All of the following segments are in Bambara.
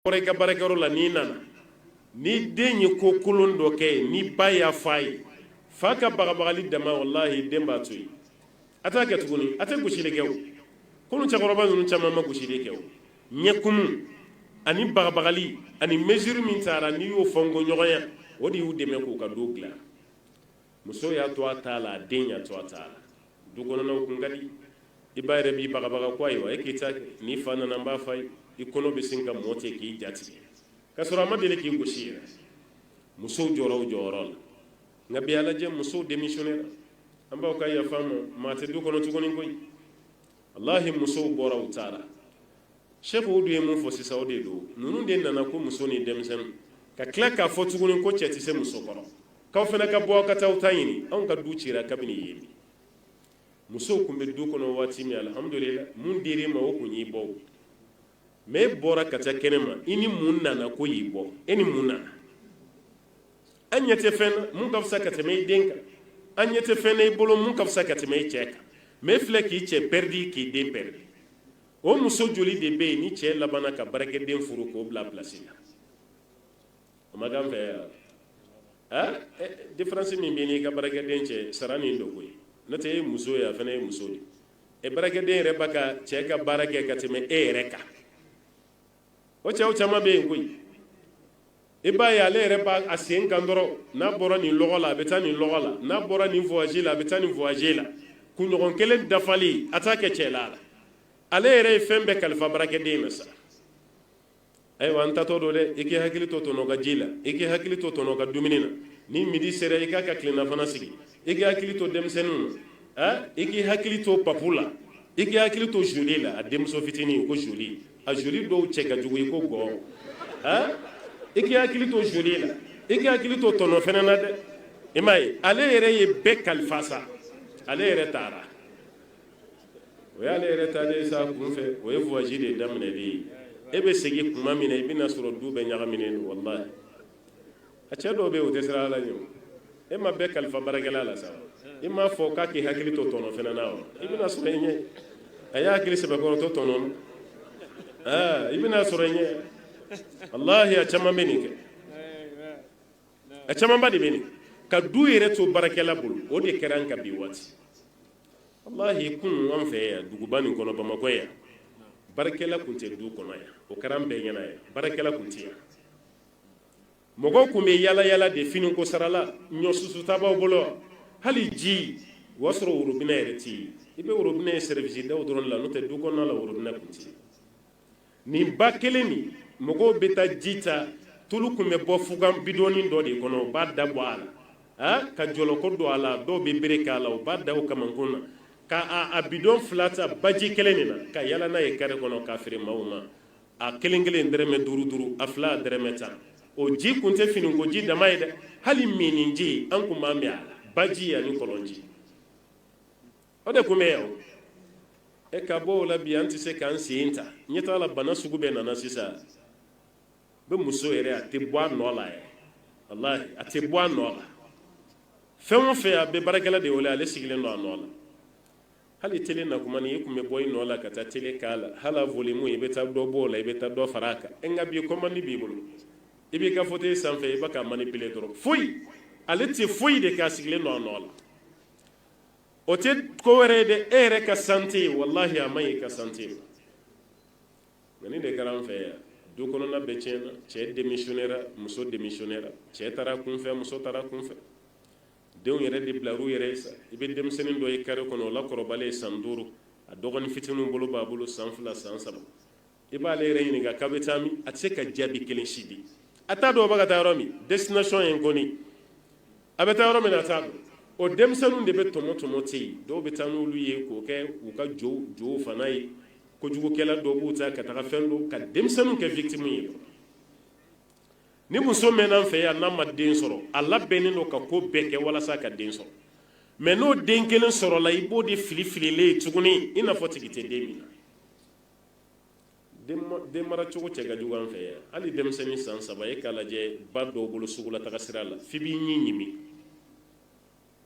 kɔrɔ i ka baarakɛyɔrɔ la n'i nana ni den ye ko kolon dɔ kɛ yen ni ba y'a fɔ a ye fa ka bagabagali dama walahi den b'a to yen a t'a kɛ tuguni a tɛ gosili kɛ o kunun cɛkɔrɔba ninnu caman ma gosili kɛ o ɲɛkumu ani bagabagali ani mesure min tara n'i y'a fɔ n ko ɲɔgɔnya o de y'u dɛmɛ k'u ka du dilan muso y'a to a t'a la a den y'a to a t'a la du kɔnɔna kun ka di i ba yɛrɛ b'i bagabaga ko ayiwa e k'i ta n'i fa nana n b'a fɔ a ye i kɔnɔ bɛ sin ka mɔ ten k'i ja tigɛ k'a sɔrɔ a ma deli k'i gosi yɛrɛ musow jɔra o jɔyɔrɔ la nka bi a lajɛ musow denmisɛnnin an baw ka yafa an ma maa tɛ du kɔnɔ tuguni koyi walahi musow bɔra u taara service o dun ye mun fɔ sisan o de don ninnu de nana ko muso ni denmisɛnnin ka tila k'a fɔ tuguni ko cɛ tɛ se muso kɔrɔ k'aw fana ka bɔ aw ka taa aw ta ɲini anw ka du cira kabini yen de musow tun bɛ du kɔnɔ waati min alhamdulila mun dir'e ma o tun y'i bɔ mɛ e bɔra ka taa kɛnɛ ma i ni mun nana ko y'i bɔ e ni mun nana an ɲɛ tɛ fɛn na mun ka fisa ka tɛmɛ i den kan an ɲɛ tɛ fɛn na i bolo mun ka fisa ka tɛmɛ i cɛ kan mɛ e filɛ k'i cɛ pɛridi k'i den pɛridi o muso joli de bɛ yen ni cɛ labanna ka baarakɛden furu k'o bila pilasi la o ma kan fɛ yan diferansi min bɛ n'i ka baarakɛden cɛ sara min don koyi n'o tɛ e ye muso ye a fana ye muso ye e baarakɛden yɛrɛ b'a ka cɛ ka baara kɛ ka tɛmɛ e yɛrɛ kan o cɛw caman bɛ yen koyi i b'a ye ale yɛrɛ b'a sen kan dɔrɔn n'a bɔra nin lɔgɔ la a bɛ taa nin lɔgɔ la n'a bɔra nin voyage la a bɛ taa nin voyage la kunɲɔgɔn kelen dafalen a t'a kɛ cɛla la ale yɛrɛ ye fɛn bɛɛ kalifa baarakɛden na sa ayiwa n taatɔ don dɛ i k'i hakili to tɔntɔn ka ji la i k'i hakili to tɔntɔn ka dumuni na ni midi sera i k'a ka tilennafana sigi i k'i hakili to denmisɛnninw na i k'i hakili to papu la i k'i hakili to joli la a denmuso fitinin ko joli a joli dɔw cɛ ka jugu i ko gɔn i k'i hakili to joli la i k'i hakili to tɔntɔn fana na dɛ i m'a ye ale yɛrɛ ye bɛɛ kalifa sa ale yɛrɛ taara o y'ale yɛrɛ taalen sa kunfɛ o ye voyage de daminɛ de ye e bɛ segin tuma min na i bɛna sɔrɔ du bɛɛ ɲagaminen don walahi a cɛ dɔw bɛ yen o tɛ siran ala ɲɛ e ma bɛɛ kalifa baarakɛla la sa i m'a fɔ k'a k'i hakili to tɔntɔn fana na wa i bɛna sɔrɔ i ɲɛ a y'a hakili sɛbɛkɔrɔ to tɔntɔn na i bɛna sɔrɔ i ɲɛ walahi a caman bɛ yen kɛ a camanba de bɛ yen ka du yɛrɛ to baarakɛla bolo o de kɛra an ka bi waati kunun an fɛ yan duguba nin kɔnɔ bamakɔ yan baarakɛla tun tɛ du kɔnɔ yan o kɛra an bɛɛ ɲɛna yan baarakɛla tun tɛ yan mɔgɔ tun bɛ yaalayaala de fini ko sara la ɲɔ susuta b'aw bolo hali ji o y'a sɔrɔ worobina yɛrɛ tɛ i bɛ worobina ye service daw dɔrɔn la n'o tɛ du kɔnɔna la worobina tun tɛ nin ba kelen nin mɔgɔw bɛ taa ji ta tulu tun bɛ bɔ fugan bidɔni dɔ de kɔnɔ u b'a da bɔ a la ka jɔlɔkɔ don a la dɔw bɛ bere k'a la u b'a da kamankun na ka a bidon fila ta baji kelen nin na ka yaala n'a ye kare kɔnɔ k'a feere maaw ma a kelen kelen dɔrɔmɛ duuru duuru a fila dɔrɔmɛ tan o ji kun tɛ fini ko ji dama ye dɛ hali minniji an tun b'a min a la baji ani kɔlɔnji o de tun bɛ yan e ka bɔ o la bi an tɛ se k'an sen ta ɲɛ t'a la bana sugu bɛɛ nana sisan bi muso yɛrɛ a tɛ bɔ a nɔ la yɛrɛ walahi a tɛ bɔ a nɔ la fɛn o fɛn a bɛ baarakɛla de wele ale sigilen don a nɔ la hali tele na kuma ni i tun bɛ bɔ i nɔ la ka taa tele k'a la hali a volume i bɛ taa dɔ bɔ o la i bɛ taa dɔ fara a kan e nka bi commande b'i bolo i b'i ka fauteuil sanfɛ i bɛ k'a manipuler dɔrɔn foyi ale tɛ foyi de kɛ a sigilen don a nɔ la o tɛ ko wɛrɛ ye dɛ e yɛrɛ ka sante ye walahi a man ɲi i ka sante ma nka nin de kɛra an fɛ yan du kɔnɔna bɛɛ tiɲɛna cɛ démissionnéra muso démissionnéra cɛ taara kunfɛ muso taara kunfɛ denw yɛrɛ de bilala u yɛrɛ ye sa i bɛ denmisɛnnin dɔ ye kare kɔnɔ o la kɔrɔbalen ye san duuru a dɔgɔnin fitininw bolo b'a bolo san fila san saba i b'ale yɛrɛ ɲininka k'a bɛ taa min a tɛ se ka jaabi kelen si di a t'a dɔn a bɛ ka taa yɔrɔ min destination ye nkɔni a bɛ taa yɔrɔ min na a t'a dɔn o denmisɛnninw de bɛ tɔmɔ tɔmɔ ten yen dɔw bɛ taa n'olu ye k'o kɛ u ka jow jow fana ye kojugukɛla dɔw b'u ta ka taga fɛn dɔw ka denmisɛnninw kɛ victime ye ni muso mɛnna an fɛ yan n'a ma den sɔrɔ a labɛnnen don ka ko bɛɛ kɛ walasa ka den sɔrɔ mais n'o den kelen sɔrɔla i b'o den fili fililen ye tuguni i n'a fɔ tigi tɛ den nin na den mara cogo cɛ ka jugu an fɛ yan hali denmisɛnnin san saba e k'a lajɛ ba dɔw bolo sugulataga sira la f'i b'i ɲin ɲimi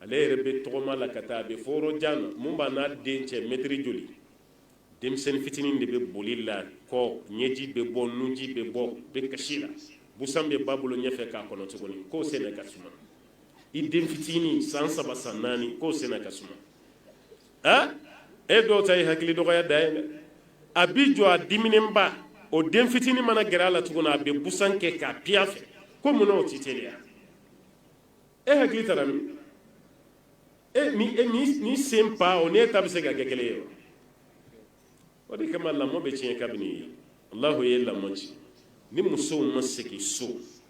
ale yɛrɛ bɛ tɔgɔma la ka taa a bɛ fo yɔrɔ jan na mun b'a n'a den cɛ mɛtiri joli denmisɛnnin fitinin de bɛ boli l'a kɔ ɲɛji bɛ bɔ nunji bɛ bɔ bɛ kasi la busan bɛ ba bolo ɲɛfɛ k'a kɔnɔ tuguni k'o senna ka suma i den fitinin san saba san naani k'o senna ka suma e dɔw ta ye hakili dɔgɔya dan ye dɛ a b'i jɔ a diminenba o den fitinin mana gɛrɛ a la tuguni a bɛ busan kɛ k'a piya fɛ ko mun na o t'i teliya e hakili taara min e ni e nin sen pas o n'e ta bɛ se ka kɛ kelen ye wa o de kama lamɔ bɛ tiɲɛ kabini yen alahu ye lamɔ ci ni musow ma segin so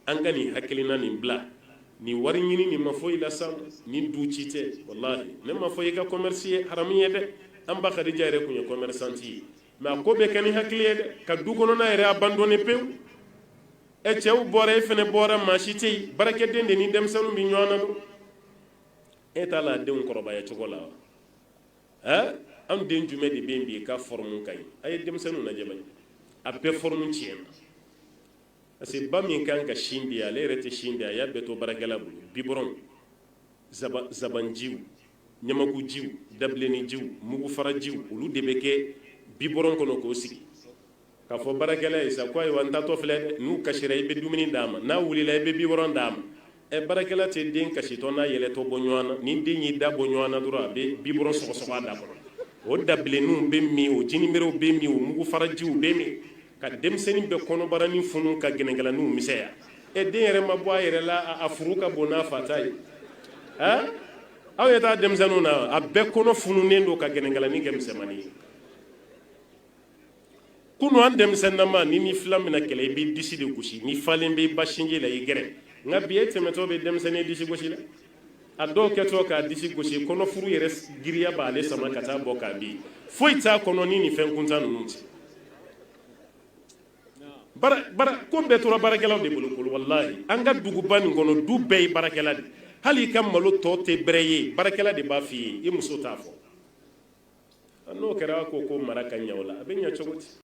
an ka nin hakilina nin bila nin wari ɲini nin ma foyi lase an ma ni du ci tɛ walahi ne ma fɔ i ka commerce ye haramu ye dɛ an ba Khadija yɛrɛ tun ye commerçante ye mais a ko bɛ kɛ ni hakili ye dɛ ka du kɔnɔna yɛrɛ abandonné pewu i cɛ bɔra e fɛnɛ bɔra maa si tɛ yen baarakɛden de ni denmisɛnninw bɛ ɲɔgɔn na don e t'a la denw kɔrɔbaya cogo la wa ɛ anw den jumɛn de bɛ yen bi k'a fɔrɔmu ka ɲi a ye denmisɛnninw lajɛ bani a bɛɛ fɔrɔmu tiɲɛna parce que ba min kan ka sin di ale yɛrɛ tɛ sin di a y'a bɛɛ to baarakɛla bolo bibɔrɔnw zabanjiw ɲamakujiw dabilenninjiw mugufarajiw olu de bɛ kɛ bibɔrɔn kɔnɔ k'o sigi k'a fɔ baarakɛla ye sa ko ayiwa n taatɔ filɛ n'a kasira i bɛ dumuni d'a ma n'a wulila i bɛ bibɔrɔn d'a ma ɛ baarakɛla tɛ den kasitɔ n'a yɛlɛtɔ bɔ ɲɔgɔn na ni den y'i da bɔ ɲɔgɔn na dɔrɔn a bɛ bibɔrɔn sɔgɔsɔgɔ a da kɔrɔ o dabilenninw bɛ min o jiniberew bɛ min o mugufarajiw bɛ min ka denmisɛnnin bɛɛ kɔnɔbaranin funu ka gɛnɛkalaninw misɛya ɛ den yɛrɛ ma bɔ a yɛrɛ la a furu ka bon n'a fa ta ye ɛ aw ye taa denmisɛnninw na a bɛɛ kɔnɔ fununen don ka gɛnɛkalanin kɛ misɛnmanin ye kunun an denmisɛnninama n'i n'i filan min kɛlɛ i b'i disi de gosi n'i falen bɛ ba sinji la i gɛrɛ nka bi e tɛmɛtɔ bɛ denmisɛnnin disi gosi la a dɔw kɛtɔ k'a disi gosi kɔnɔfuru yɛrɛ giriya b'ale sama ka taa bɔ k'a di foyi t'a kɔnɔ ni ni fɛn kuntan ninnu tɛ ko bɛɛ tora baarakɛlaw de bolo bolo walahi an ka duguba nin kɔnɔ du bɛɛ ye baarakɛla de hali i ka malo tɔ tɛ bɛrɛ ye baarakɛla de b'a f'i ye i muso t'a fɔ n'o kɛra ko ko mara ka ɲɛ o la a bɛ ɲɛ cogo di